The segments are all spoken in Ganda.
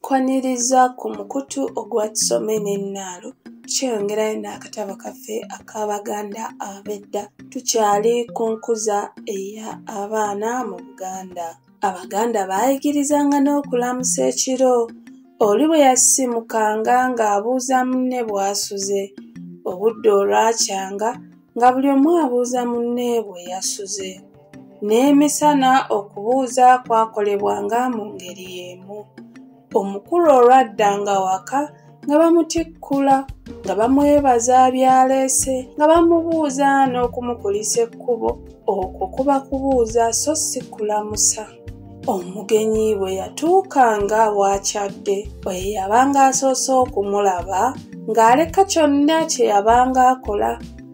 Kwaniriza ku mukutu ogwa Tusome n'ennaalo tukyeyongerayo n'akatabo kaffe ak'Abaganda ab'edda. Tukyali ku nkuza eya abaana mu Buganda. Abaganda baayigirizanga n'okulamusa ekiro. Oli bwe yasimukanga ng'abuuza munne bw'asuze. Obudde olwakyanga nga buli omu abuuza munne bwe yasuze n'emisana okubuuza kwakolebwanga mu ngeri y'emu omukulu olwadda nga waka nga bamutikkula nga bamwebaza byaleese nga bamubuuza n'okumukulisa ekkubo okwo kuba kubuuza so si kulamusa omugenyi bwe yatuukanga waakyadde bwe yabanga asoose okumulaba ng'aleka kyonna kye yabanga akola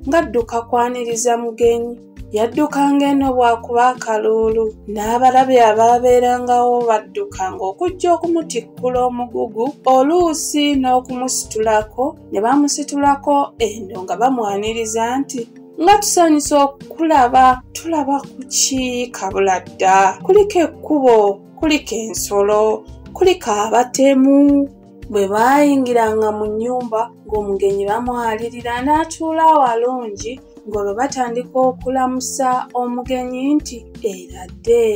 ng'adduka kwaniriza mugenyi yaddukanga eno bw'akuba akaluulu n'abalabi abaabeerangawo baddukanga okujja okumutikkula omugugu oluusi n'okumusitulako ne bamusitulako eno nga bamwaniriza nti nga tusanyusa okulaba tulaba kuki kabula dda kuliko ekkubo kuliko ensolo kuliko abatemu bwe baayingiranga mu nnyumba ng'omugenyi bamwalirira n'atuula awalungi ng'olwo batandika okulamusa omugenyi nti era dde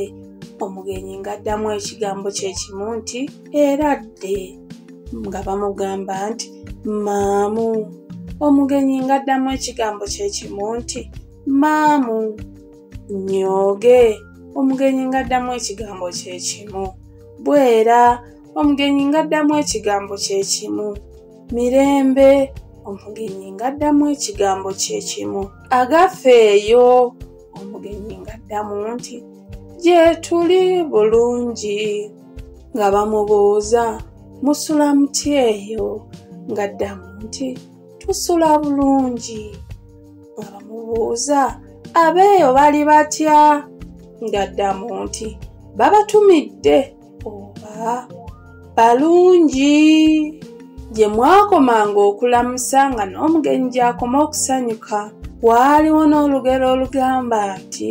omugenyi ng'addamu ekigambo kye kimu nti era dde nga bamugamba nti maamu omugenyi ngaddamu ekigambo kyekimu nti maamu nyooge omugenyi ngaddamu ekigambo kyekimu bwera omugenyi ngaddamu ekigambo kyekimu mirembe omugenyi ngaddamu ekigambo kyekimu agaffe eyo omugenyi ngaddamu nti gyetuli bulungi nga bamubuuza musula muti eyo ng'addamu nti tusula bulungi nga bamubuuza abeeyo bali batya ng'addamu nti babatumidde oba balungi gye mwakomanga okulamusa nga n'omugenyi gy'akoma okusanyuka waaliwo n'olugero olugamba nti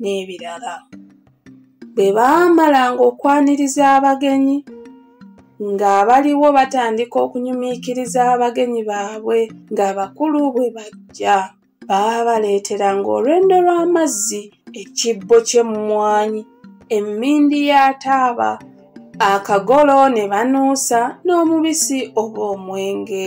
n'ebirala bwe baamalanga okwaniriza abagenyi ng'abaliwo batandika okunyumiikiriza abagenyi baabwe ng'abakulu bwe bajja baabaleeteranga olwendo lw'amazzi ekibbo ky'emmwanyi emmindi ya taaba akagolo ne banuusa n'omubisi oba omwenge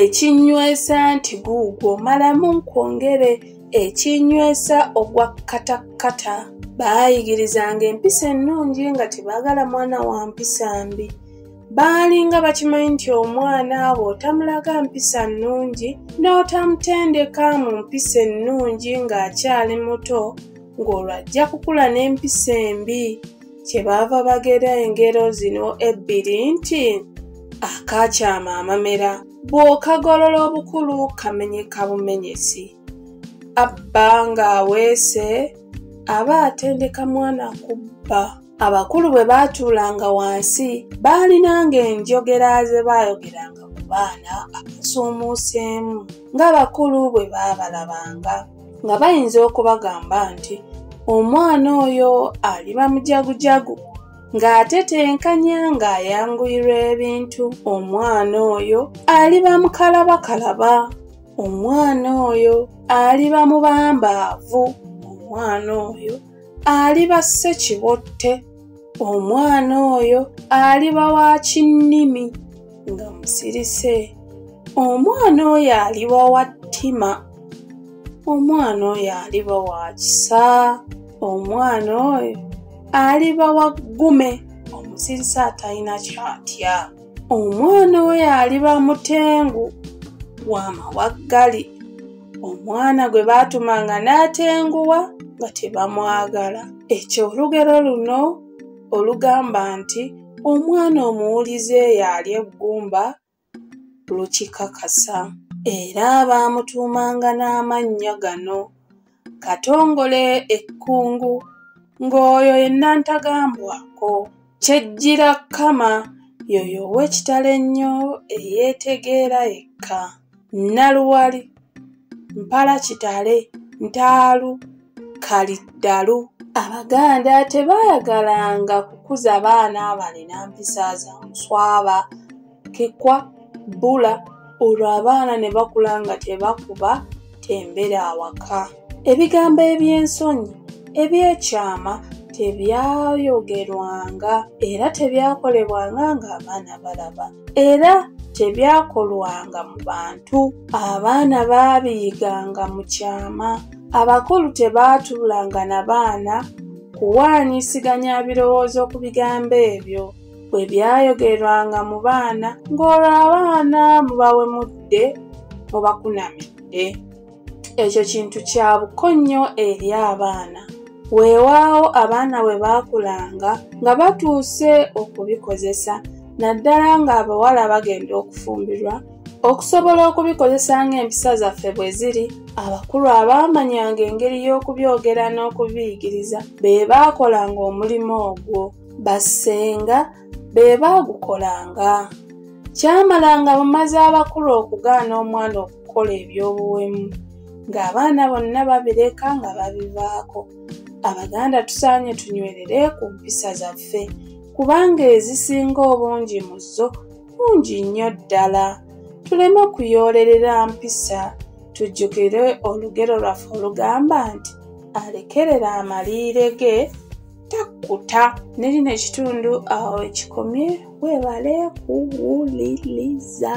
ekinywesa nti guugwo malamu nkwongere ekinywesa ogwa katakkata baayigirizanga empisa ennungi nga tebaagala mwana wa mpisa mbi baalinga bakimanyi nti omwana abo otamulaga mpisa nnungi n'otamutendeka mu mpisa ennungi ng'akyali muto ng'olwo ajja kukula n'empisa embi kyebaava bagera engero zino ebbiri nti akaakyama amamera bw'okagolola obukulu kamenyeka bumenyesi abba ng'aweese aba atendeka mwana kubba abakulu bwe baatuulanga wansi baalinanga enjogera ze baayogeranga ku baana abasuumuuseemu ng'abakulu bwe baabalabanga nga bayinza okubagamba nti omwana oyo aliba mujagujagu ng'ate tenkanya ng'ayanguyirwa ebintu omwana oyo aliba mukalabakalaba omwana oyo aliba mubambaavu omwana oyo aliba ssekibotte omwana oyo aliba wa kinnimi nga musirise omwana oyo aliba wa ttima omwana oyo aliba wa kisa omwana oyo aliba wa ggume omusirise atalina kyatya omwana oyo aliba mutengu wa mawaggali omwana gwe baatumanga n'atenguwa nga tebamwagala ekyo olugero luno olugamba nti omwana omuwulize yaali eggumba lukikakasa era baamutuumanga n'amannya gano katongole ekkungu ng'oyo ye nnantagambwako Kyejjira Kama yoyo ow'ekitalo ennyo eyeetegeera yekka. Nnaluwali, Mpala kitale, Ntaalu, Kaliddalu. Abaganda tebaayagalanga kukuza baana balina mpisa za muswaba. kekwa bbula olwo abaana ne bakula nga tebakuba tembere awaka ebigambo eby'ensonyi ebyekyama tebyayogerwanga era tebyakolebwanga ng'abaana balaba era tebyakolwanga mu bantu abaana baabiyiganga mu kyama abakulu tebaatuulanga na baana kuwaanyisiganya birowoozo ku bigambo ebyo bwe byayogerwanga mu baana ng'olwo abaana mubawemudde mubakunamidde ekyo kintu kya buko nnyo eri abaana weewaawo abaana bwe baakulanga nga batuuse okubikozesa naddala ng'abawala bagenda okufumbirwa okusobola okubikozesa ng'empisa zaffe bwe ziri abakulu abaamanyanga engeri y'okubyogera n'okubiyigiriza be baakolanga omulimu ogwo bassenga be baagukolanga kyamala nga bamaze abakulu okugaana omwana okukola eby'obuwemu ng'abaana bonna babireka nga babivaako abaganda tusaanye tunywerere ku mpisa zaffe kubanga ezisinga obungi mu zo bungi nnyo ddala tuleme kuyoolerera mpisa tujjukire olugero lwaffe olugamba nti alekerera amaliire ge takkuta ne lino ekitundu awo ekikomye weebale kuwuliriza